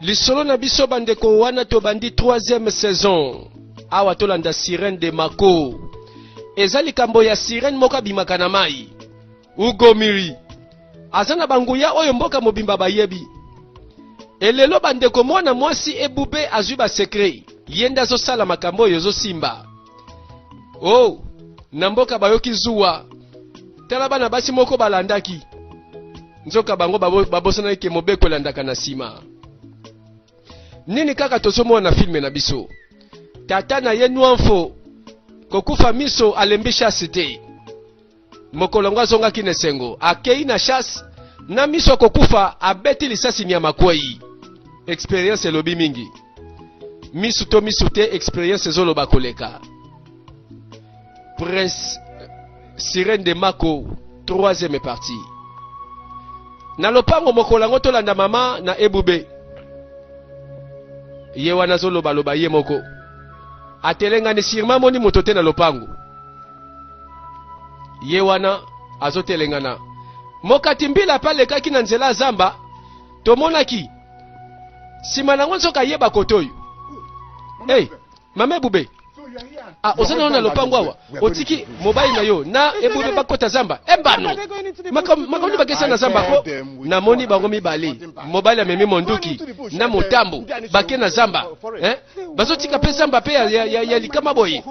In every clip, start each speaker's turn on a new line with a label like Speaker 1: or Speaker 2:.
Speaker 1: lisolo na biso bandeko wana tobandi 3e saison awa tolanda sirene de mako eza likambo ya sirene moko abimaka na mai Ugomiri aza na banguya oyo mboka mobimba bayebi. Elelo bandeko, mwana mwasi ebube azwi ba secret, ye nde azosala makambo oyo ezosimba. Oh, na mboka bayoki zuwa. Tala bana basi moko balandaki, nzoka bango babosanaki ke mobeko elandaka na nsima. Nini kaka tozomona na filme na biso, tata na ye Nwanfo kokufa miso alembi shasi te. Mokolo yango azongaki na esengo, akei na chasse na miso ya kokufa, abeti lisasi nyama kwei. Experience elobi mingi, misu to misu te, experience ezoloba koleka. Prince Sirène de Mako, troisième partie. Na lopango mokolo yango tolanda mama na ebube ye wana azolobaloba ye moko atelengani sirma amoni moto te na lopango ye wana azotelengana mokati mbila mpe alekaki na nzela ya zamba tomonaki nsima nango nzoka ayeba kote oyo hey, mama ebube ah, oza nano na lopango awa otiki mobali na yo na ebube bakota zamba ebano eh, makambo nde bakesa na zamba po namoni bango mibale mobali amemi monduki na motambo bake na zamba eh? bazotika mpe zamba mpe ya, ya, ya, ya likama boye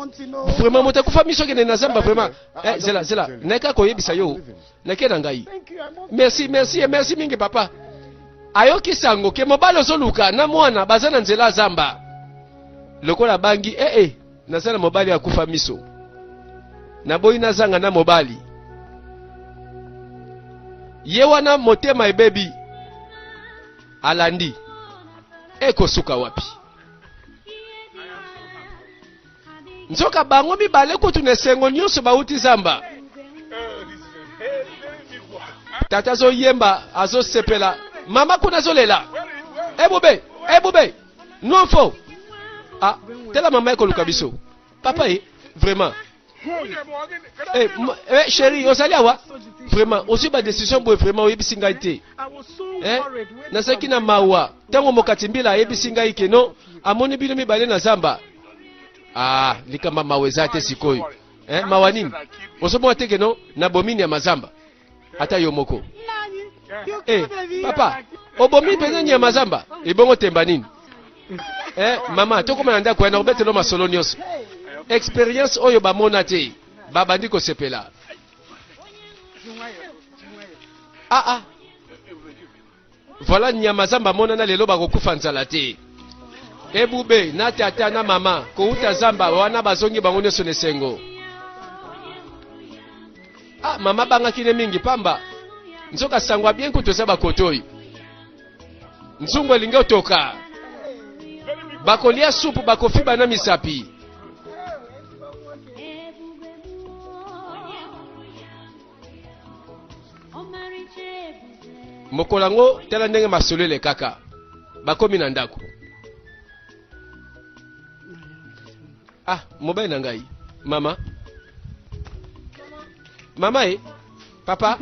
Speaker 1: vraimen moto akufa miso akende na zamba vraimen eh, zela zela nayaka koyebisa yo nake na ngai merci merci eh, merci mingi papa ayoki sango ke mobali ozoluka na mwana baza na nzela zamba lokola abangi ee eh, eh, naza na mobali akufa miso naboyi nazanga na mobali ye wana motema ebebi alandi ekosuka wapi nzoka bango mibale kutu na esengo nyonso bauti zamba tata azoyemba azosepela mama kuna azolela ebube ebube nwamfo ah, tela mama ekoluka biso papa ye vraiment Eh, eh, chérie, ozali awa vraiment ozwi badecision boye vraiment oyebisi ngai te eh? nazalaki na mawa ntango mokati mbila ayebisi ngai keno amoni bino mibale na zamba ah, likamba mawa eza te sikoyo eh, mawa nini ozomona te keno nabomi nyama zamba ata yo moko eh, papa obomi mpenza nyama zamba ebongo temba nini eh, mama tokoma na ndako wana obetelo masolo nyonso experience oyo bamona te babandi kosepela ah, ah. Voilà nyama zamba amonana lelo bakokufa nzala te. Ebube na tata na mama kouta zamba wana bazongi bango nyonso na esengo. Ah, mama abangaki ne mingi pamba nzoka sango abien kutu eza bakotoi nzungu elingi otoka bakolia supu bakofiba na misapi mokolo yango tala ndenge masolo elekaka bakomi na ndako ah mobali na ngai mama mama e papa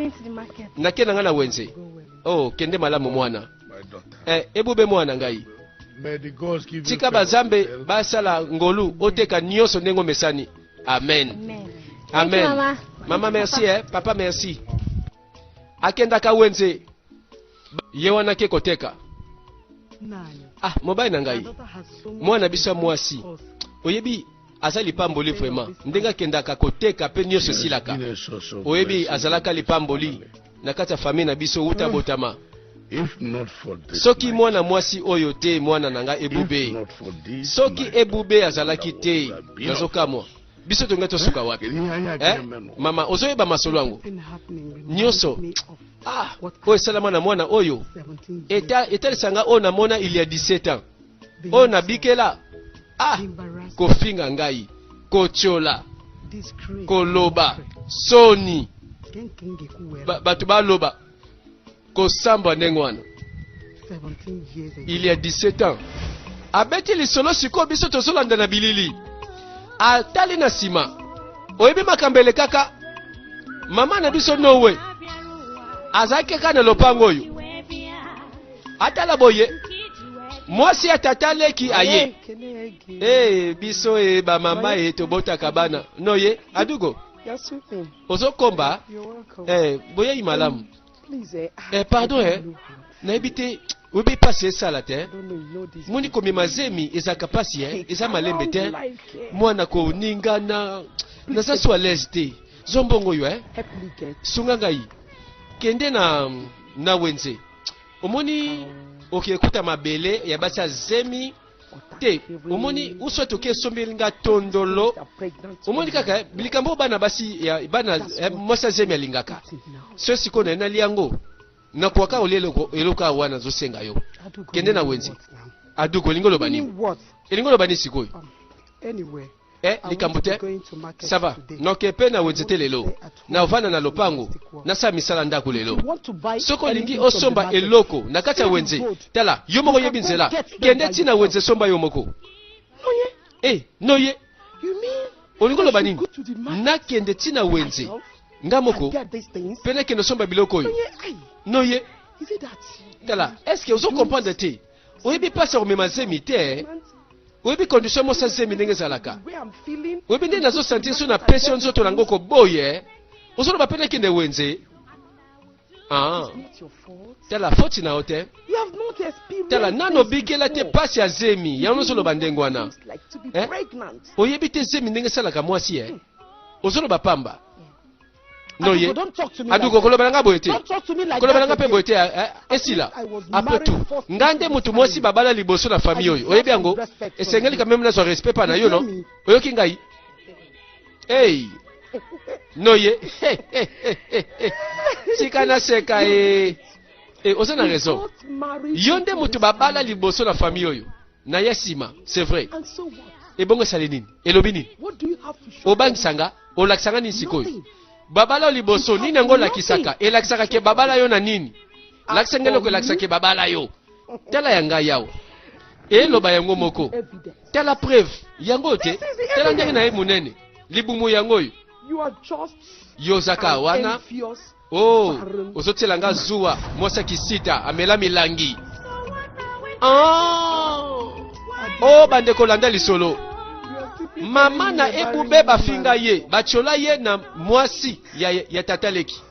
Speaker 1: nake na ngai na wenze oh kende malamu mwana eh, ebube mwana ngai tika bazambe basala ngolu oteka nyonso ndenge omesani Amen. Amen. Amen. Mama. Mama merci eh. Papa merci. Akendaka wenze. Ye wana ke koteka. Nani? Ah, mobali na ngai. Mwana biso mwasi. Oyebi aza lipamboli vraiment ndenge akendaka koteka mpe nyonso esilaka oyebi azalaka lipamboli na kati ya famille na biso wuta ah. botama
Speaker 2: soki mwana mwasi
Speaker 1: oyo te mwana na ngai ebube soki ebube azalaki te nazokamwa biso tonge tosuka wapi eh? mama ozoyeba masolo yango nyonso ah, oyo esalama na mwana oyo etalisanga oyo namona il ya 17 ans oyo nabikela ah kofinga ngai kotyola koloba soni bato baloba kosambwa ndenge wana il ya 17 ans abeti lisolo sikoyo biso tozolanda na bilili atali na nsima oyebi makambo elekaka mama na biso nowe azalaki kaka na lopango oyo atala boye mwasi ya tata leki aye hey, eh, biso e bamama e tobotaka bana no ye adugo ozokomba hey, eh, boyei malamu hey, eh, pardon eh, nayebi te oyebi mpasi esala te moni komema zemi ezalaka mpasi e eza malembe te mwana koningana naza so alaise te zombongo yo eh? sunga ngai kende na na wenze omoni okee kuta mabele ya basi ya zemi te omoni uso toke esombeli nga tondolo omoni kaka likambo oyo bana basi ya bana eh, mwasi ya zemi alingaka so sikoyo naye nali yango nakwaka olia eloko awa wana azosenga yo kende na wenze aduka olingi oloba nini elingi oloba nini sikoyo um,
Speaker 3: eh likambo
Speaker 1: te ça va noke mpe na wenze te lelo navanda na lopango nasala misala ndako lelo soki olingi osomba eloko na kati ya wenze tala yo moko oyebi nzela kende ti na wenze somba yo moko e noye olingi oloba nini nakende ti na wenze nga moko mpe nakende osomba biloko oyo noye tala estce ozo comprendre te oyebi place ya komema zemi te oyebi condition mosa zemi ndenge ezalaka oyebi ndenge nazo sentir so na pesi yo nzoto nango koboye ozoloba mpe nakende wenze Ah. tala foti na yo te tala nano obikela te mpasi ya zemi yango ozoloba ndenge wana eh? oyebi te zemi ndenge esalaka mwasi e ozoloba pamba noye adu kokoloba na nga boye te koloba na nga mpe boye te eh, eh, esila apres tout nga nde motu mwasi babala liboso na famille oyo oyebi yango esengeli kameme nazwa respect pa na yo no oyoki ngai ei noye tika naseka e eh. oza na raison yo nde motu babala liboso na famille oyo na ya sima c'est vrai ebongo esali nini elobi nini obangisa nga olakisa nga nini sikoyo babala yo liboso nini yango olakisaka elakisaka ke babala yo na nini lakisa nga eloko elakisa ke babala yo tala ya ngai yawa eloba yango moko tala preuve yango oyo te tala ndenge na ye monene libumu yango oyo yozaka wana Oh, ozotiela nga zuwa mwasi ya kisita amela milangi ah! o oh, bandeko landa lisolo mama na ebube bafinga ye batyola ye na mwasi ya, ya tata leki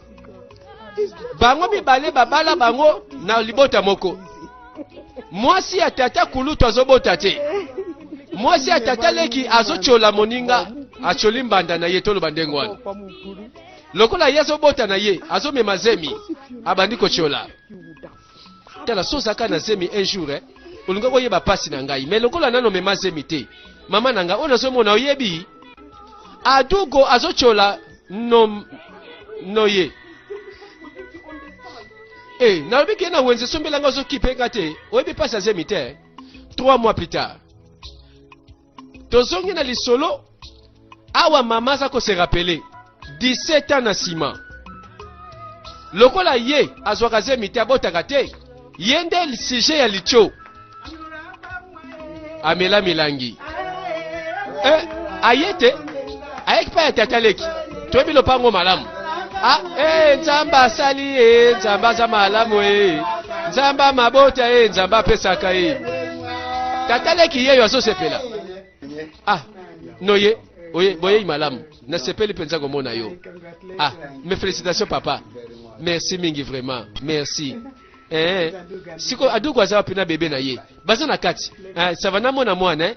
Speaker 1: bango mibale babala bango na libota moko mwasi ya tata kulutu azobota te mwasi ya tata leki azotyola moninga atyoli mbanda na ye toloba ndenge wana Lokola ye azobota na ye, azomema zemi, abandi kotiola. Tala, so ozalaka na zemi un jour, eh, olinga koyeba pasi na ngai, mais lokola nano mema zemi te, mama na ngai oyo nazomona oyebi, adugo azotiola no, no ye e nalobi ke na wenze esombelanga ozokipe nga te oyebi mpasi azemi te 3 mois plus tard tozongi na lisolo awa mama aza ko se rappeler 17 ans na nsima lokola ye azwaka zemi te abotaka te ye nde sujet ya litio amela milangi eh, aye te ayaki pa ya tata leki toyebi lopango malamu ah, eh, nzambe asali ye eh, nzambe aza malamu ye eh. nzambe amabota ye eh, nzambe apesaka ye eh. tata leki yeyo azosepela ah noye oye boyei malamu nasepeli mpenza komona yo ah mes félicitations papa merci mingi vraiment merci eh, siko adugu aza wapi na bebe na ye baza na kati eh, sava namona mwana eh?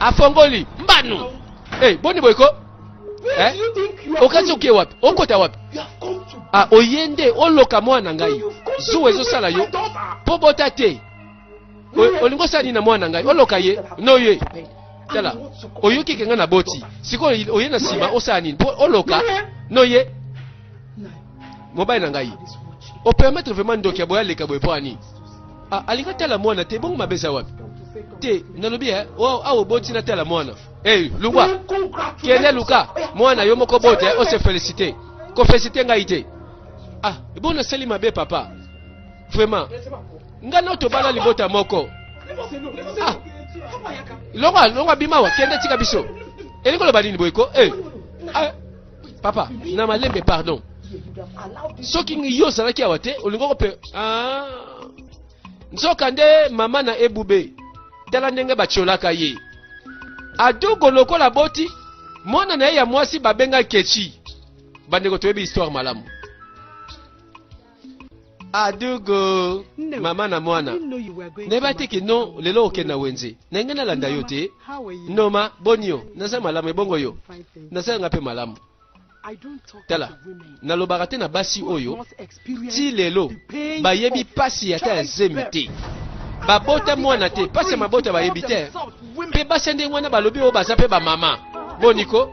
Speaker 1: afongoli mbanu hey, eh, boni boyeko eh? okati oke wapi okota wapi ah, oye nde oloka mwana ngai zuwa ezosala yo mpo bota te olingi osala nini na mwana ngai oloka ye noye tala oyoki ke ngai na boti sikoyo oye na nsima osala nini mpo oloka noye mobali na ngai opermettre vraiment ndoki ya boye aleka boye mpo ani ah, alingi atala mwana te bongo mabe eza wapi te nalobi eh, awa oboti natala mwana hey, lungwa kende luka mwana yo moko bote eh, ose felicite kofelicite ngai te ah bo nasali mabe papa vraiment ngai nao tobala libota moko ah longwa longwa bimawa kende tika biso elingi oloba nini boyeko hey. Eh, ah. papa na malembe pardon soki yo ozalaki awa te olingoko mpe ah. nzoka nde mama na ebube tala ndenge batyolaka ye adugo lokola boti mwana na ye ya mwasi babenga kechi bandeko toyebi histoire malamu adugo mama na mwana nayeba te kino lelo okende na wenze na ngai nalanda yo te noma boni yo naza malamu ebongo yo naza nga mpe malamu tala nalobaka te na basi oyo ti lelo bayebi mpasi ata ya zemi te babota mwana te mpasi ya mabota bayebi te mpe basi ya ndenge wana balobi oyo baza mpe bamama boniko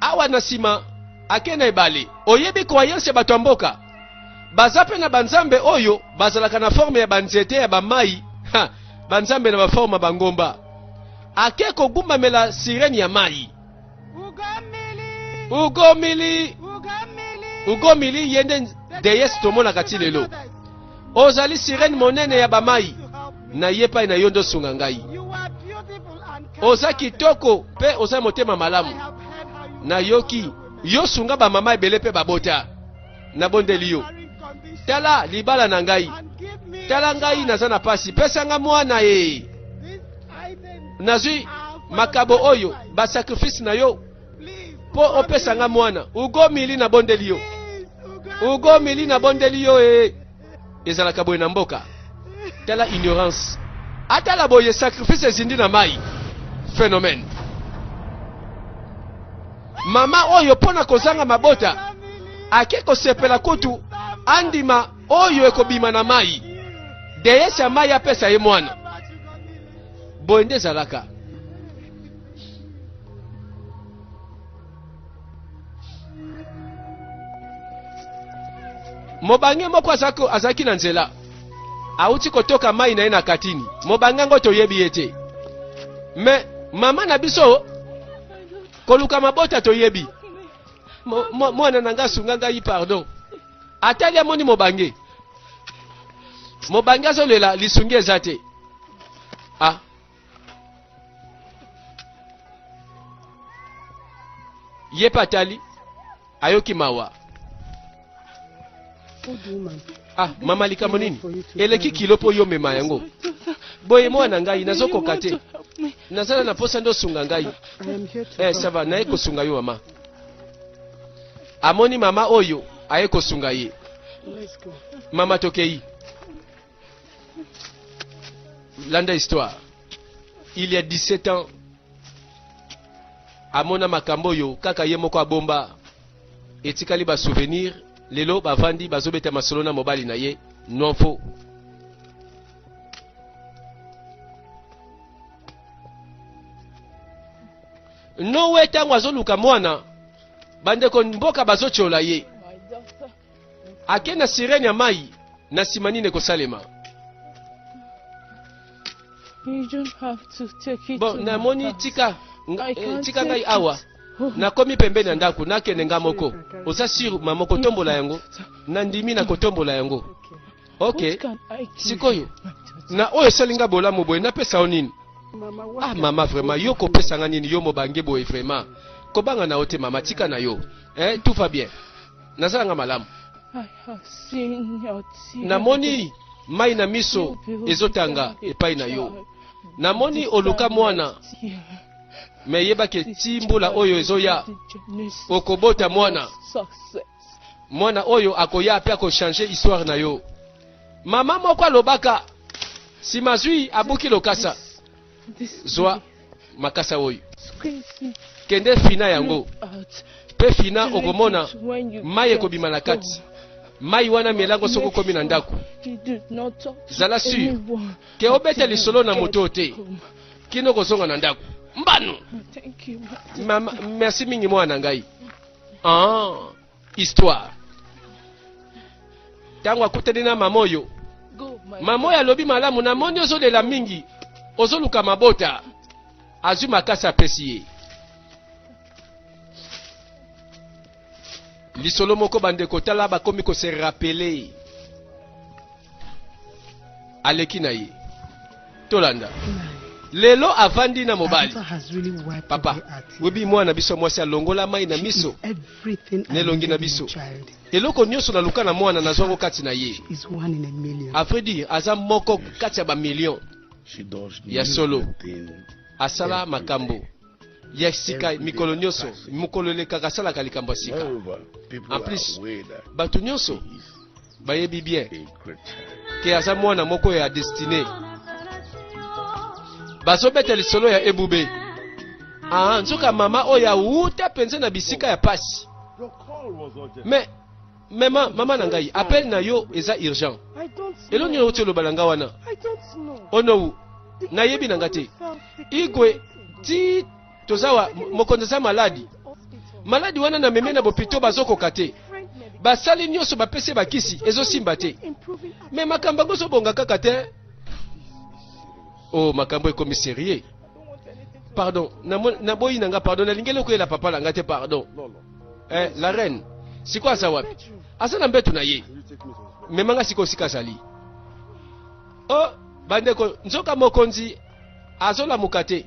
Speaker 1: Awa na sima ake na ebale. Oyebi croyance ya bato ya mboka? Baza pe na banzambe oyo bazalaka na forme ya banzete ya bamai, banzambe na baforme ya bangomba. Ake kogumbamela sirene ya mai. Ugomili, ugomili, ugomili yende deyes tomonaka ti lelo. Ozali sirene monene ya bamai, na ye pai na yo nde osunga ngai. Oza kitoko mpe oza motema malamu. Nayoki yo sunga bamama ebele mpe babota. Nabondeli yo, tala libala na ngai, tala ngai naza na pasi, pesa nga mwana ye. Nazwi makabo oyo, basakrifisi na yo mpo opesa nga mwana ugo mili na bondeli yo ugo mili na bondeli yo e ezalaka boye na mboka tala ignorance atala boye sacrifice ezindi na mai phénomène mama oyo mpo na kozanga mabota ake kosepela kutu andima oyo ekobima na mai deyesi ya mai apesa ye mwana boye nde ezalaka mobange moko azalaki na nzela awuti kotoka mai na ye na katini mobange yango toyebi ye te me mama na biso koluka mabota toyebi mwana na ngai asunga ngai pardon atali amoni mobange mobange azolela lisungi eza te ah. ye mpe atali ayoki mawa ah mama likambo nini eleki kilo mpo yo mema yango boye mwana na ngai nazokoka te nazala na mposa nde osunga ngai eh, sava naye kosunga yo mama amoni mama oyo aye kosunga ye mama tokei landa histoire il y a 17 ans amona makambo oyo kaka ye moko abomba etikali ba souvenir lelo bavandi bazobeta masolo na mobali na ye nonfo nowe ntango azoluka mwana bandeko mboka bazotyola ye ake na sirene ya mai na nsima nini ekosalema bon namoni tika eh, tika ngai awa nakomi pembeni ya ndako nakende nga moko oza sur mama kotombola yango nandimi na kotombola yango ok sikoyo na oyo esali nga bolamu boye napesa yo nini ah mama vraiment yo kopesa nga nini yo mobange boye vraiment kobanga na yo te mama tika na yo eh, tout va bien nazala nga malamu namoni mai na miso ezotanga epai na yo namoni oluka mwana me yebaki eti mbula oyo ezoya okobota mwana mwana oyo akoya mpe akochange histoire na yo mama moko alobaka nsima zwi abuki lokasa zwa makasa oyo kende fina yango mpe fina okomona mai ekobima na kati mai wana melango soki okomi na ndako zala sur ke obeta lisolo na moto te kino okozonga na ndako mbano merci mingi mwana na ngai ah. histoire ntango akutani na mama oyo mama oyo alobi malamu namoni ozolela mingi ozoluka mabota azwi makasi apesi ye lisolo moko bandeko tala bakomi kose rapele aleki na ye tolanda lelo avandi na mobali papa oyebi mwana na biso mwasi alongola mai na miso na elongi na biso eloko nyonso naluka na mwana nazwa yango kati na ye afre dire aza moko kati ya bamillion ya solo asala makambo ya sika mikolo nyonso mokolo elekaka asalaka likambo ya sika en plus bato nyonso bayebi bien ke aza mwana moko ya destine bazobeta lisolo ya ebube ah, nzoka mama oyo awuta mpenza na bisika ya pasi me mema mama na ngai appel na yo eza urgent elo nini outi oloba na ngai wana onowu nayebi na ngai te igwe ti toza wa mokonzi aza maladi maladi wana na meme na bopito bazokoka te basali nyonso bapesi bakisi ezosimba te me makambo yango ezobonga kaka te o oh, makambo ekomi serieux pardon naboyi na nga pardon nalingi eloko yela papa na nga te pardon eh, la reine sikoyo aza wapi aza na mbeto na ye mema nga sikoyo sika azali o oh, bandeko nzoka mokonzi azolamuka te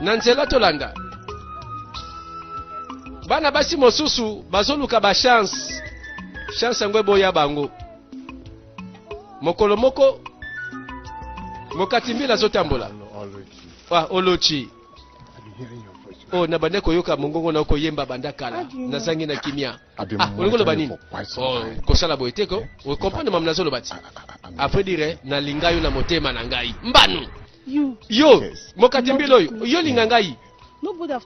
Speaker 1: na nzela tolanda bana basi mosusu bazoluka bachanse chanse yango eboya bango mokolo moko mokati mbila azotambola ah, olochi oyo oh, nabandaki koyoka mongongo na okoyemba banda kala nazangi na kimia Ah, olingi oloba nini oh, kosala boye te ko okomprendre mama nazoloba ti après dire nalinga yo na motema na ngai mbanu yo mokati mbila oyo yo linga ngai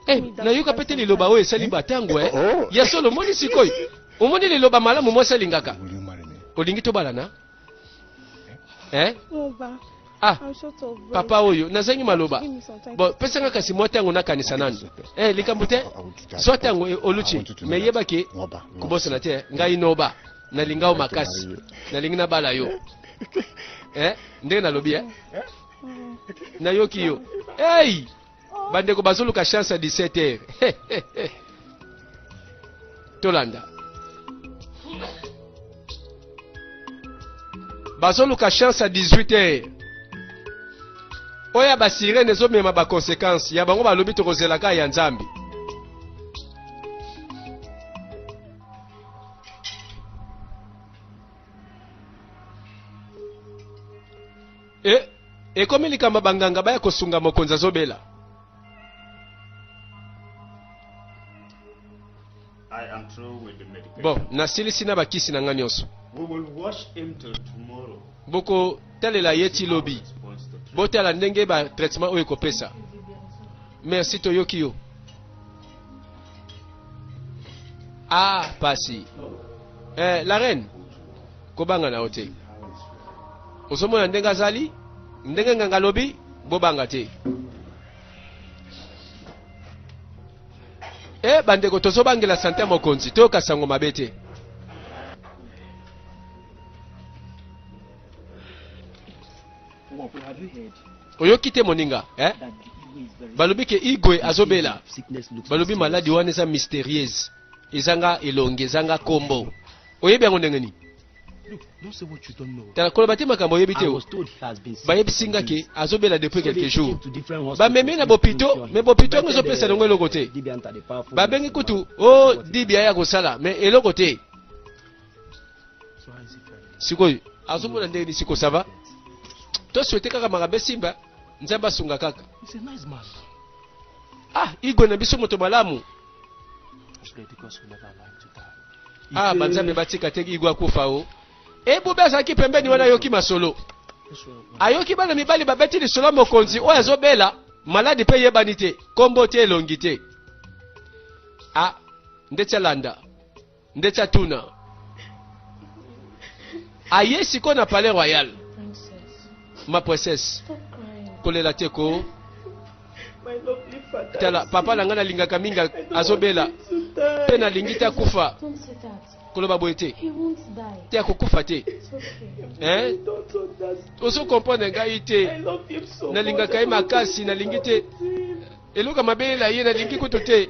Speaker 1: eh, nayoka mpe te liloba oyo esali batango e eh. oh. ya solo omoni sikoyo omoni liloba malamu mwasi alingaka olingi tobalana eh? ah papa oyo nazangi maloba bon pesa nga kasi mwa ntango nakanisa nanu eh, likambo te swa ntango eh, oluti me yeba ke kobosana te ngai noba nalinga yo makasi nalingi nabala yo eh, ndenge nalobi eh? nayoki yo ei bandeko bazoluka chance ya 17 heure tolanda bazoluka chance ya 18 heure oyo ya basirene ezomema bakonsekanse ya bango balobi tokozela kaka ya nzambe E, ekomi likambo ya banganga baya kosunga mokonzi azobela. Bon, nasilisi na bakisi na nga nyonso. Bokotalela ye ti lobi. Botala ndenge ba traitement oyo ekopesa. Merci toyoki yo. Ah, pasi. Eh, la reine. Kobanga na yo te. Ozomona ndenge azali, ndenge nganga alobi, bobanga te. e eh, bandeko tozobangela sante ya mokonzi toyoka sango mabe te oyoki te moninga eh? balobi ke igwe azobela balobi maladi wana eza mysterieuse ezanga elongi ezanga kombo oyebi yango ndenge nini tala koloba te makambo oyebi te bayebisi nga ke azobela depuis quelques jours bamemi na bopito me bopito yango ezopesa yango eloko te babengi kutu o oh, dibia ya kosala me eloko te sikoyo azomona ndenge nisi kosava toswete kaka makabe simba nzambe asunga kaka ah igwe na biso moto malamu ah banzambe batika te igo akufa o ebube azalaki pembeni wana ayoki masolo ayoki bana mibali babeti lisolo ya mokonzi oyo azobela maladi mpe eyebani te nkombo te elongi te a ah, ndeti alanda Ndeti atuna aye sikoyo na palais royal. Ma princesse, kolela te ko
Speaker 3: tala papa na ngai nalingaka
Speaker 1: mingi azobela mpe nalingi te akufa
Speaker 4: koloba boye te te akokufa te eh?
Speaker 3: ozo comprendre ngai
Speaker 1: te nalingaka
Speaker 3: ye makasi
Speaker 1: nalingi te eloko mabelela ye nalingi kutu te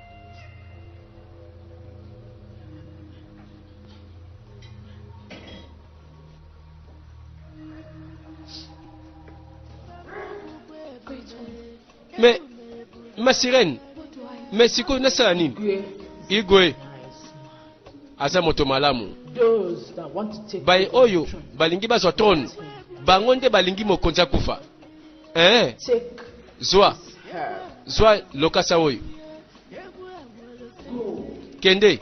Speaker 1: mais ma sirène mais sikoyo nasala nini igwe aza moto malamu
Speaker 3: baye oyo balingi
Speaker 1: bazwa trone bango nde balingi mokonzi akufa eh
Speaker 3: zwa zwa lokasa
Speaker 1: oyo
Speaker 3: kende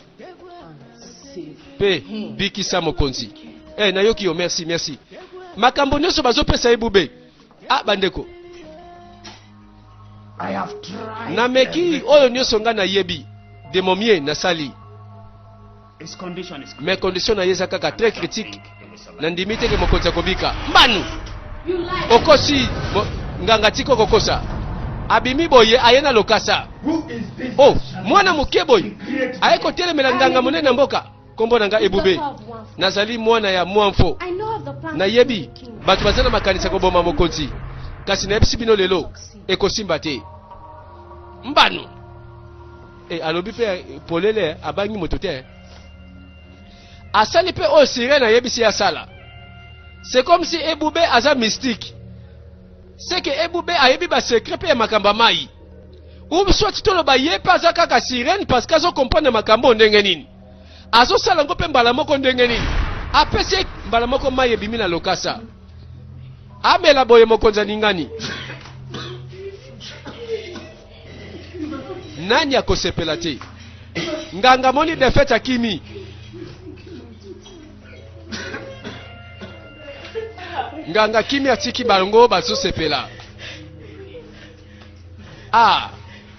Speaker 3: mpe
Speaker 1: bikisa
Speaker 3: mokonzi
Speaker 1: eh nayoki yo merci merci makambo nyonso bazopesa ye bube ah bandeko
Speaker 5: nameki oyo
Speaker 1: nyonso ngai nayebi de momie nasali
Speaker 5: mais condition na ye eza kaka
Speaker 1: très critique nandimi te ke mokonzi akobika mbanu
Speaker 4: okosi
Speaker 1: nganga tika okokosa abimi boye aye na lokasa o
Speaker 5: oh, mwana moke
Speaker 1: boye aye kotelemela nganga monene ya mboka nkombo na ngai ebube nazali mwana ya mwamfo
Speaker 4: nayebi bato
Speaker 1: baza na makanisi ya koboma mokonzi kasi nayebisi bino lelo ekosimba te mbano E, alobi mpe polele abangi moto te asali mpe oyo sirene ayebisi ye asala c'est comme si ebube aza mystique seke ebube ayebi basekret mpe ya makambo ya mai ou soit toloba ye mpe aza kaka sirene parce que azokomprendre makambo oyo ndenge nini azosala yango mpe mbala moko ndenge nini apesi ye mbala moko mai ebimi na lokasa amela boye mokonzi aningani Nani akosepela te? Nganga moni defete akimi. Nganga kimi atiki bango bazosepela. Ah,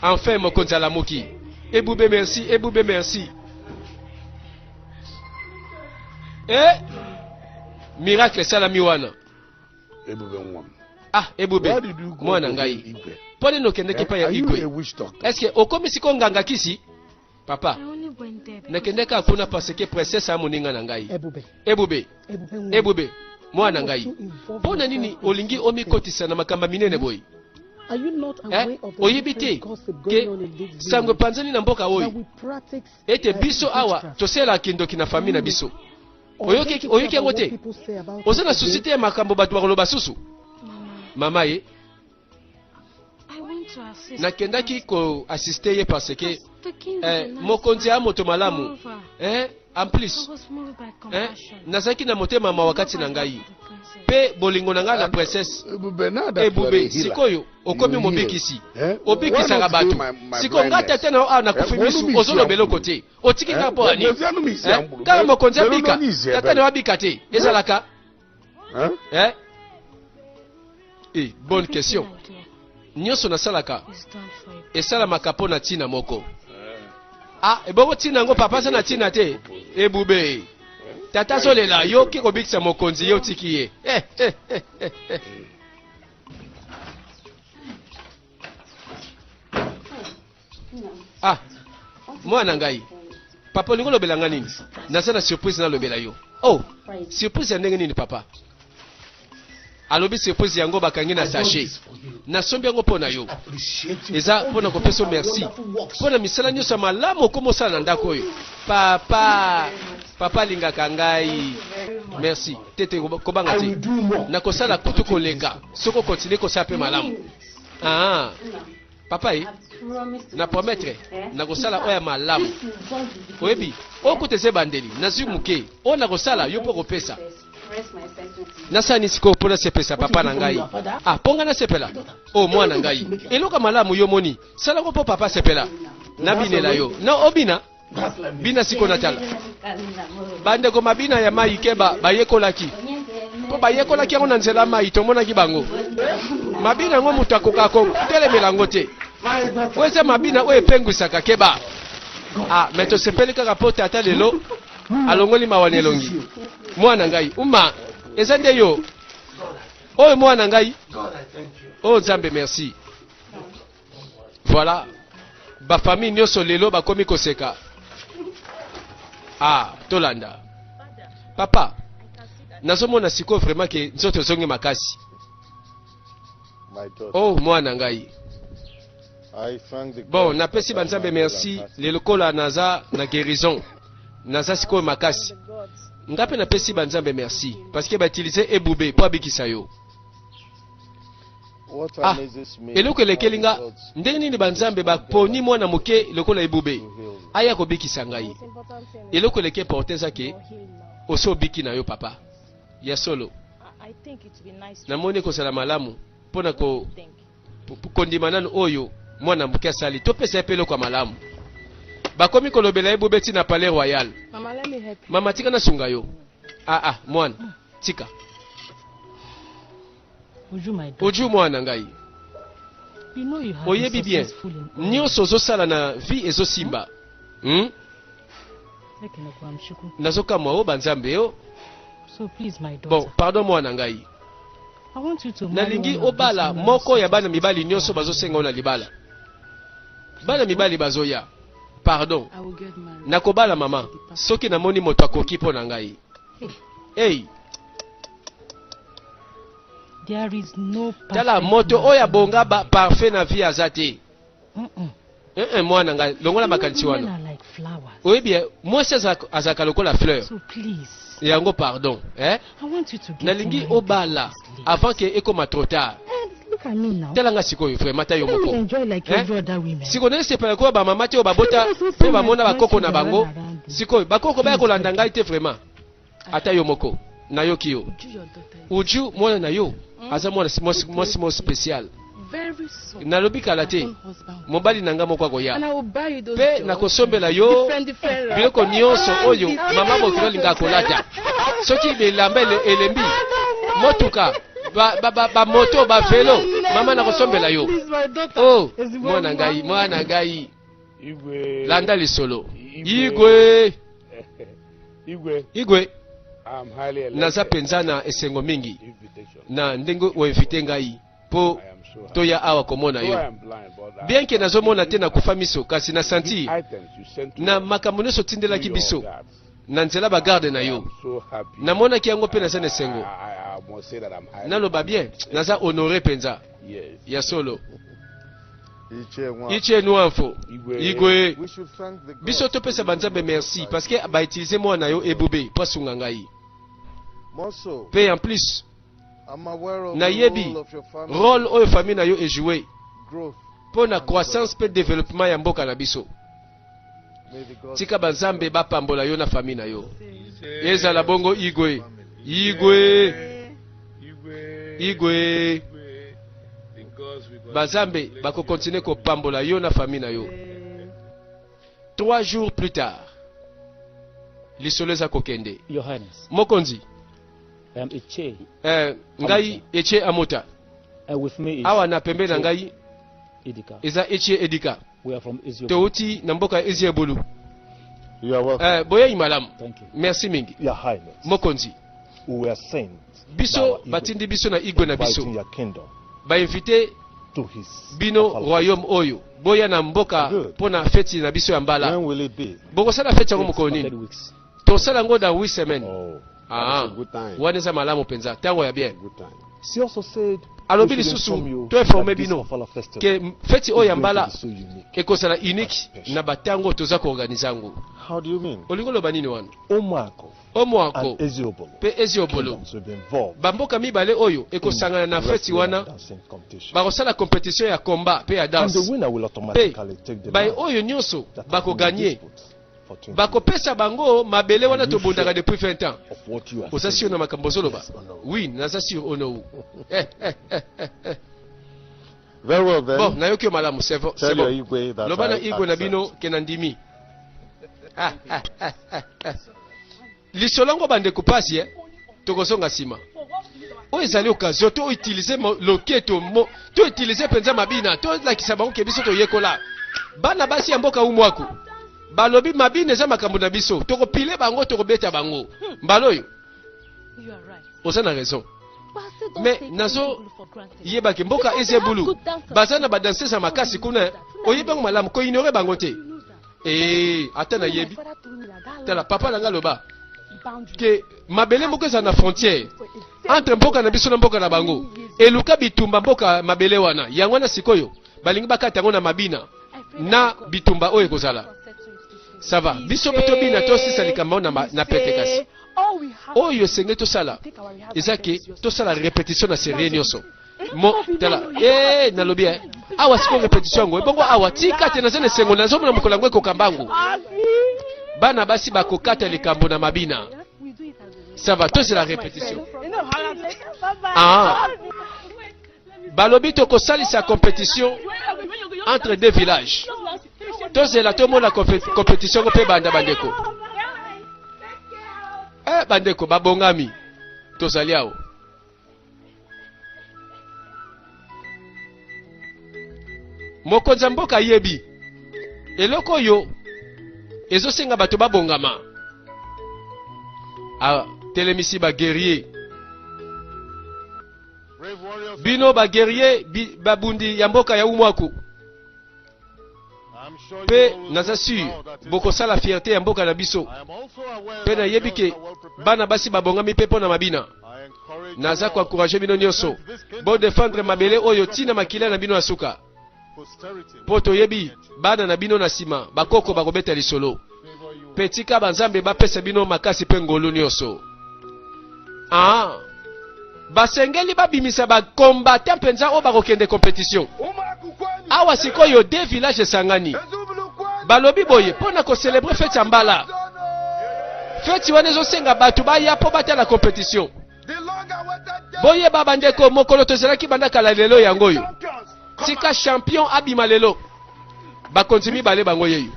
Speaker 1: enfin mokonzi alamuki. Ebube merci, Ebube merci. Eh, miracle esalami wana. Ebube
Speaker 2: Ngwam. Ah, Ebube,
Speaker 1: mwana
Speaker 2: ngai.
Speaker 1: Mpo nini
Speaker 2: okendeki epai
Speaker 1: ya Igwe?
Speaker 2: Eske okomi sikoyo nganga
Speaker 1: kisi? Papa,
Speaker 4: nakendeki kaka kuna parce que
Speaker 1: princesse ya moninga na ngai. Ebube. Ebube. Ebube,
Speaker 3: mwana
Speaker 1: ngai. Mpo na nini olingi omikotisa na makambo minene boye?
Speaker 3: Eh, oyebi te
Speaker 1: ke sango
Speaker 3: epanzani na mboka
Speaker 1: oyo
Speaker 3: ete biso
Speaker 1: awa tosalelaka kindoki
Speaker 3: na fami
Speaker 1: na biso oyoki
Speaker 3: oyoki yango
Speaker 1: te oza na
Speaker 3: susi te ya makambo
Speaker 1: bato
Speaker 3: bakoloba
Speaker 1: susu mama ye
Speaker 4: nakendaki koassiste
Speaker 1: ye parce que eh,
Speaker 4: mokonzi ya moto malamu
Speaker 1: eh,
Speaker 4: en plus
Speaker 1: eh,
Speaker 4: nazalaki na motema
Speaker 1: mawa kati na ngai mpe bolingo na ngai na princesse ebube
Speaker 2: sikoyo okomi
Speaker 1: mobikisi eh? obikisaka
Speaker 2: bato sikoyo ngai tata na yo
Speaker 1: awa nakufi
Speaker 2: misu
Speaker 1: ozoloba eloko te otiki nga mpo ya nini kaka mokonzi abika tata ne wabika te ezalaka eh? Eh, bonne question nyonso nasalaka
Speaker 4: esalamaka mpo na ntina
Speaker 1: moko ah ebongo ntina yango papa aza na ntina te ebube tata azolela yo oke kobikisa mokonzi ye otiki ye eh, eh, eh, eh, eh. ah mwana ngai papa olingi olobela ngai nini naza na surprise nalobela yo oh surprise ya ndenge nini papa alobi surprise yango bakangi na sachet nasombi yango mpo na yo eza mpo na kopesa merci mpo na misala nyonso ya malamu okoma osala na ndako oyo papa papa alingaka ngai merci te te kobanga te nakosala
Speaker 2: kutu koleka
Speaker 1: soki okontinue kosala mpe malamu aa ah. papa ye na promettre nakosala oyo ya malamu oyebi oyo kuta eza ebandeli nazwi moke oyo nakosala yo mpo okopesa nasani sikoyo mpo nasepesa papa na ngai ah mpo ngai nasepela o oh, mwana ngai eloka malamu yo moni salako mpo papa asepela nabinela yo na obina bina siko na tala bandeko mabina ya mai keba bayekolaki mpo bayekolaki yango na nzela mai tomonaki bango mabina yango moto akoka kotelemela yango te oyo eza mabina oyo epengwisaka keba ah, me tosepeli kaka mpo tata lelo alongoli mawa na elongi mwana ngai uma eza nde yo oyo mwana ngai oyo oh, nzambe merci Voilà. Ba famille nyoso lelo bakomi koseka. Ah, tolanda. Papa, nazomona siko vraiment ke nzoto ezongi makasi.
Speaker 6: Oh, mwana ngai. Bon, napesi banzambe merci lelo kola
Speaker 1: naza na guérison. Naza siko makasi. Nga pe napesi banzambe merci parce que ba utiliser ebube po abikisa yo.
Speaker 6: Ah, eloko
Speaker 1: elekeli
Speaker 6: nga
Speaker 1: ndenge nini
Speaker 6: banzambe
Speaker 1: baponi mwana moke lokola ebube aya
Speaker 6: kobikisa ngai
Speaker 1: eloko eleki eporte eza ke osi obiki na yo papa ya solo namoni ekozala malamu mpo na kondima nanu oyo mwana moke asali topesa ye mpe eloko ya malamu bakomi kolobela ye bobeti na palais royal
Speaker 3: mama tika nasunga yo
Speaker 1: aa ah, ah, mwana tika oju mwana na ngai oyebi bien nyonso ozosala na vie ezosimba hmm? nazokamwa o oh, banzambe yo oh. bon pardon mwana na ngai nalingi obala moko ya bana mibali nyonso bazosenga na libala bana mibali bazoya pardon
Speaker 3: nakobala mama
Speaker 1: soki namoni moto akoki mpo na ngai hey. tala moto oyo abonga ba parfait na vie aza te eh, eh, mwana ngai longola makanisi wana oyebi eh, mwasi azalaka lokola fleur yango pardon eh? nalingi obala avant ke ekoma trop tard tala nga sikoyo vraimen ata yo moko sikoyo naye sepela koya bamama te oyo babota mpe bamona bakoko na bango sikoyo bakoko baya kolanda ngai te vraimen ata yo moko nayoki yo uju mwana na yo hmm? aza mwana mwasi mo special nalobi kala te mobali na ngai moko akoya mpe nakosombela yo biloko nyonso oyo mama mokili olinga akolata soki bilamba elembi motuka bamoto bavelo mama nakosombela yo o oh, mwana ngai mwana ngai Igwe.
Speaker 2: Landa lisolo.
Speaker 1: Igwe.
Speaker 2: Igwe.
Speaker 1: Igwe.
Speaker 2: Naza penza na esengo
Speaker 1: mingi na
Speaker 2: ndenge oinvite
Speaker 1: ngai mpo toya
Speaker 2: awa komona yo bien ke nazomona te
Speaker 1: nakufa miso kasi na santi na
Speaker 2: makambo nyonso
Speaker 1: otindelaki biso
Speaker 2: na
Speaker 1: nzela
Speaker 2: ba garde
Speaker 1: na yo
Speaker 2: namonaki yango mpe naza na
Speaker 1: esengo
Speaker 2: naloba bien naza
Speaker 1: honore mpenza ya solo
Speaker 6: ice nuanfo
Speaker 1: igwe
Speaker 6: biso topesa banzambe merci
Speaker 1: parce
Speaker 6: que bautilise mwana na
Speaker 1: yo ebube mpo asunga ngai
Speaker 6: mpe en plus nayebi role oyo famille na yo
Speaker 1: ejoue mpo
Speaker 6: na croissance
Speaker 1: mpe développement ya mboka na biso
Speaker 6: tika ba nzambe ba pambola
Speaker 1: yo na famille na yo ezala bongo igwe igwe igwe ba nzambe bako continuer ko pambola yo na famille na yo trois jours plus tard lisolo eza kokende Johannes. mokonzi um,
Speaker 5: eche. Eh, ngai
Speaker 1: eche amota Uh, with me
Speaker 5: is awa na pembe na ngai
Speaker 1: Edika. eza
Speaker 5: eche edika Towuti na mboka ya
Speaker 1: Eziebulu.
Speaker 6: Eh, boyei malamu.
Speaker 1: Merci
Speaker 5: mingi.
Speaker 1: Mokonzi.
Speaker 7: Biso batindi
Speaker 1: biso na igwe na biso.
Speaker 7: Ba invite bino royaume
Speaker 1: oyo
Speaker 7: boya
Speaker 1: na mboka mpo na feti na
Speaker 7: biso
Speaker 1: ya mbala
Speaker 7: bokosala feti yango mokolo
Speaker 1: nini
Speaker 5: Tosala
Speaker 1: ngo
Speaker 5: da 8
Speaker 1: semaines. Oh.
Speaker 7: Ah,
Speaker 2: wana eza
Speaker 1: malamu
Speaker 2: mpenza
Speaker 1: ntango
Speaker 7: ya
Speaker 1: bien alobi lisusu
Speaker 7: to informe
Speaker 1: bino ke
Speaker 7: feti oyo ya
Speaker 1: mbala ekozala
Speaker 7: unique
Speaker 1: na batango toza koorganize yango olingi
Speaker 7: oloba nini wana omoako
Speaker 1: mpe
Speaker 7: eziobolo bamboka mibale oyo
Speaker 1: ekosangana na feti wana
Speaker 7: bakosala kompetitio ya
Speaker 1: combat mpe ya danse mpe baye
Speaker 7: oyo nyonso
Speaker 1: bakoganye
Speaker 7: bakopesa bango
Speaker 1: mabele wana tobundaka depuis 20
Speaker 7: ans
Speaker 1: oza sur na
Speaker 7: makambo ozoloba
Speaker 1: oui naza
Speaker 7: sur onou
Speaker 1: eh,
Speaker 6: eh, eh, eh, eh. Very well, then. bon nayoki yo malamu sevo
Speaker 1: loba
Speaker 6: na igwe na bino
Speaker 1: ke na ndimi ah, ah, ah, ah, ah. Lisolo yango bandeko pasi eh? tokozonga nsima oyo ezali okazio to utilize loketo to utilize mpenza mabina tolakisa bango ke biso toyekola bana basi ya mboka umwaku balobi mabina eza makambo na biso tokopile bango tokobeta bango hmm. mbala oyo
Speaker 4: oza na raison
Speaker 1: me
Speaker 4: nazo
Speaker 1: yebaki
Speaker 4: mboka ezebulu baza
Speaker 1: na
Speaker 4: badanse ya
Speaker 1: makasi kuna oyebi bango malamu koignore bango te ee ata nayebi tala
Speaker 3: papa na ngai aloba
Speaker 1: ke
Speaker 3: mabele
Speaker 1: moko ezala na frontière entre mboka na biso na mboka na bango eluka bitumba mboka mabele wana yango wana sikoyo balingi bakata yango na mabina na
Speaker 4: bitumba oyo
Speaker 1: ekozala
Speaker 4: sava biso mpe
Speaker 1: tobina tosisa likambo na, na pete kasi oyo
Speaker 3: esengeli tosala
Speaker 1: eza ke
Speaker 3: tosala
Speaker 1: repetition
Speaker 3: na
Speaker 1: serie nyonso mo tala eh nalobi eh awa sikoyo repetition yango ebongo awa tika te naza na esengo nazomona mokolo yango ekoka mbangu bana basi bakokata likambo na mabina
Speaker 3: ça va tozela repetition ah.
Speaker 1: balobi tokosalisa compétition entre deux villages tozela tomona compétition ngo mpe banda bandeko eh, bandeko babongami tozali awa mokonzi ya mboka ayebi eloko oyo ezosenga bato babongama atelemisi ah, baguerrier
Speaker 6: bino baguerrier
Speaker 1: babundi ya mboka ya umwaku
Speaker 6: Pe naza sur
Speaker 1: bokosala fierte
Speaker 6: ya mboka
Speaker 1: na biso. Pe
Speaker 6: nayebi ke
Speaker 1: bana basi
Speaker 6: babongami pe
Speaker 1: pona mabina.
Speaker 6: Naza ko encourager bino
Speaker 1: nioso bo defendre
Speaker 6: mabele oyo
Speaker 1: ti na makila na bino ya suka.
Speaker 6: Po toyebi
Speaker 1: bana na bino na sima bakoko bakobeta lisolo. Mpe tika
Speaker 6: banzambe bapesa
Speaker 1: bino makasi mpe ngolu nyonso. Ah, basengeli babimisa bakombata mpenza oyo bakokende kompetition. Awa sikoyo de village esangani, balobi boye mpo na koselebre feti ya mbala. Feti wana ezosenga bato baya mpo batala kompetition. Boyeba bandeko, mokolo tozalaki banda kala lelo yango oyo. Tika champion abima lelo. Bakonzi mibale bango yeyo.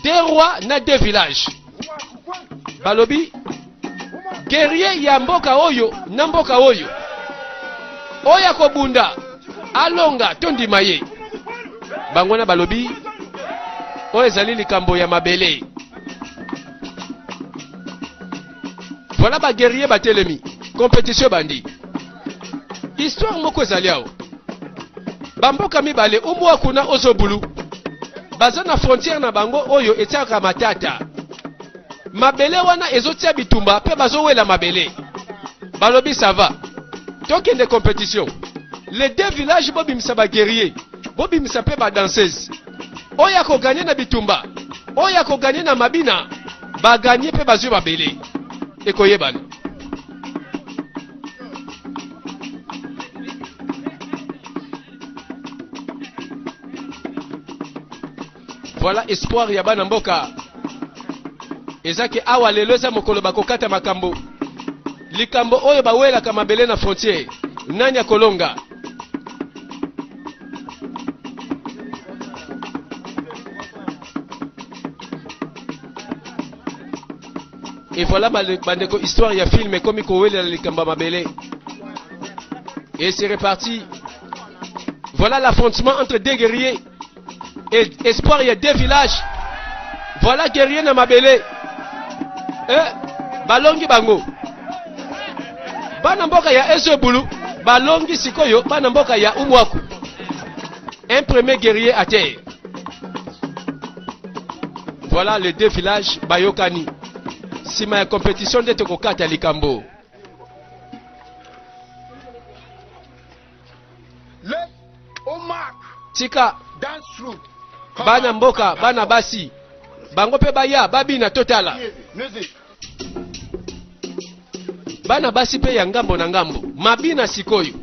Speaker 1: Deux rois na deux villages. Balobi guerrier ya mboka oyo na mboka oyo. Oyo akobunda alonga tondima ye. Bango wana balobi oyo ezali likambo ya mabele. Voilà ba guerrier batelemi. Competition bandi. Histoire moko ezali awa. Bamboka mibale umwa kuna ozobulu. Baza na frontière na bango oyo etiaka matata. Mabele wana ezotia bitumba pe bazowela mabele. Balobi ça va. Tokende competition. Les deux villages bobimisa ba guerrier. Bobimisa pe ba danseuse. Oyo akoganye na bitumba. Oyo akoganye na mabina. ba gagner pe bazui mabele ekoyebana voilà espoir ya bana mboka eza ke awa lelo eza mokolo bakokata makambo likambo oyo bawelaka mabele na frontiere nani akolonga Et voilà bandeko histoire ya film ekomi kowelela likambo ya mabele. Et c'est reparti. Voilà l'affrontement entre deux guerriers et espoir ya deux villages. Voilà guerrier na mabele. Eh, balongi bango. Bana mboka ya Ezebulu balongi sikoyo bana mboka ya Umwaku. Un premier guerrier à terre. Voilà les deux villages Bayokani. Sima ya compétition nde tokokata likambo. Tika bana mboka bana basi bango mpe baya babina totala. bana basi mpe ya ngambo na ngambo. Mabina sikoyo,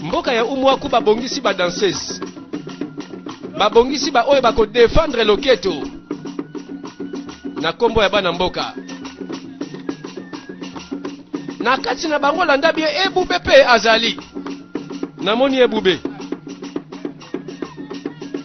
Speaker 1: mboka ya Umwaku babongisi ba danseuses, babongisi ba oyo bako defendre loketo na kombo ya bana mboka na kati na bango landa bie ebube mpe azali namoni ebube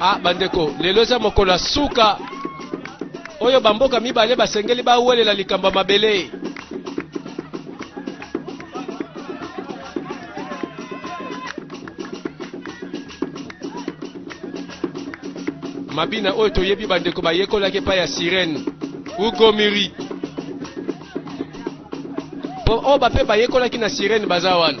Speaker 1: ah bandeko lelo eza mokolo ya suka oyo bamboka mibale basengeli bawelela likambo ya mabele mabina oyo toyebi bandeko bayekolaki epai ya sirene ugomiri po oyo oh, bape bayekolaki na sirene baza wana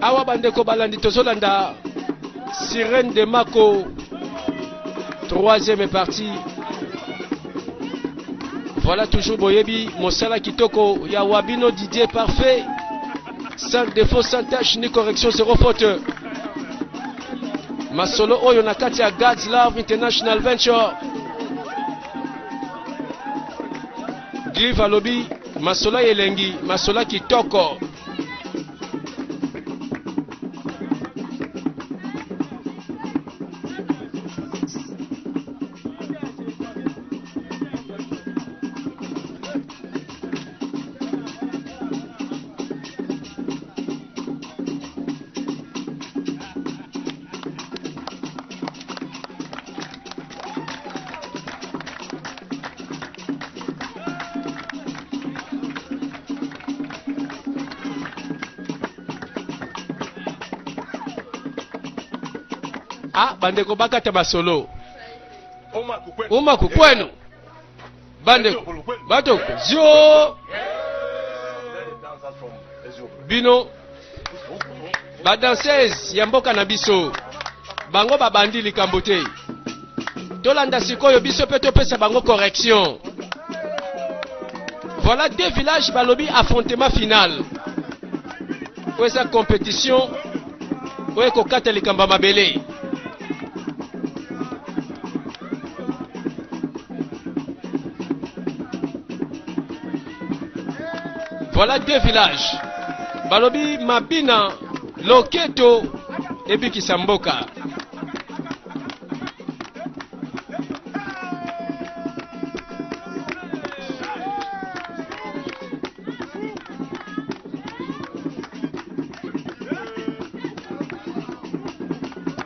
Speaker 1: awa bandeko balandi tozolanda sirene de mako troisième partie voilà toujours boyebi mosala kitoko ya wabino didier parfait Sans défaut, sans tâche, ni correction, zéro faute. Masolo oyo na kati ya God's Love International Venture. Clive alobi masola elengi, masola kitoko. Ah, bandeko bakata masolo. Uma kukwenu. bande bato zio bino badanseuse ya mboka na biso bango babandi likambo te tolanda sikoyo biso mpe topesa bango correction voilà deux villages balobi affrontement final oyo eza compétition oyo ekokata likambo ya mabele Voilà deux villages. Balobi Mabina, Loketo et Bikisamboka.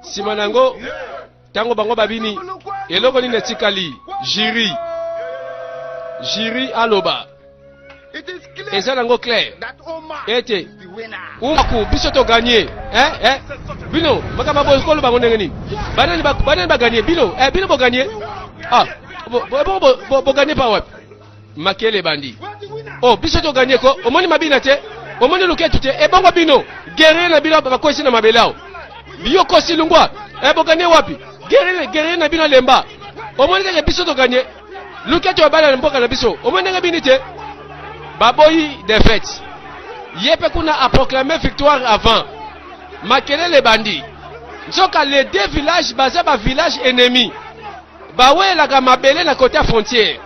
Speaker 1: nsima na yango ntango bango babimi eloko nini etikali jiri jiri aloba eza nango claire ete umaku biso toganye eh, eh. bino makambo boye koloba yango ndenge nini banani baganye bino eh, bino boganye ah, boganye pa wapi makele ebandi o oh, biso toganie ko omoni mabina te omoni luketu te ebongo bino guerrier na bino bakwesi na mabele awo yo kosi lungwa eh, boganie wapi guerrier na bino alemba omoni kaka biso toganie luketu abala na mboka na biso omoni ndenge bini te baboyi defete ye mpe kuna aproclame victoire avant makelele ebandi nzoka les deux villages baza ba village ennemi Bawelaka mabele na kote ya frontiere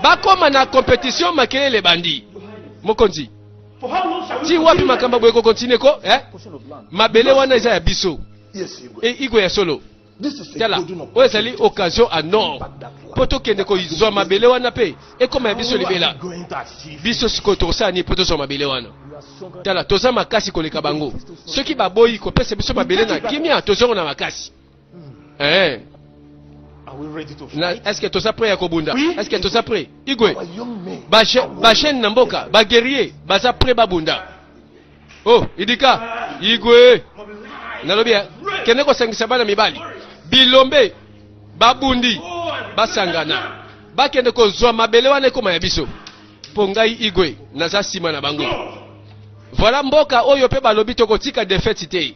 Speaker 1: bakoma na competition makelele bandi mokonzi ti wapi makambo boye kokontinue ko eh? mabele wana eza ya biso e igwe ya solo tala oyo ezali occasion a nord mpo tokende kozwa mabele wana mpe ekoma ya biso libela biso sikoyo tokosala nini mpo tozwa mabele wana tala toza makasi koleka bango soki baboyi kopesa biso mabele na kimia tozongo na makasi eh est-ce que toza prêt ya kobunda est-ce que toza prêt igwe ba jeune na mboka ba guerrier baza prêt babunda oh idika igwe nalobi eh, kende kosangisa bana mibali bilombe babundi basangana bakende kozwa mabele wana ekoma ya biso mpo ngai igwe naza nsima na bango voilà mboka oyo mpe balobi tokotika defete te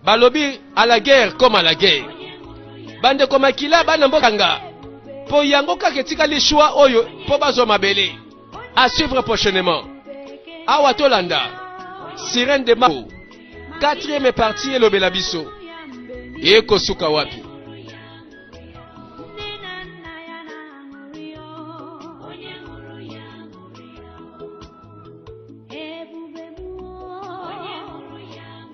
Speaker 1: balobi à la guerre comme à la guerre bandeko makila bana mboka nga mpo yango kaka etikali choix oyo mpo bazwa mabele à suivre prochainement awa tolanda sirène de mao quatrième partie elobela biso ekosuka wapi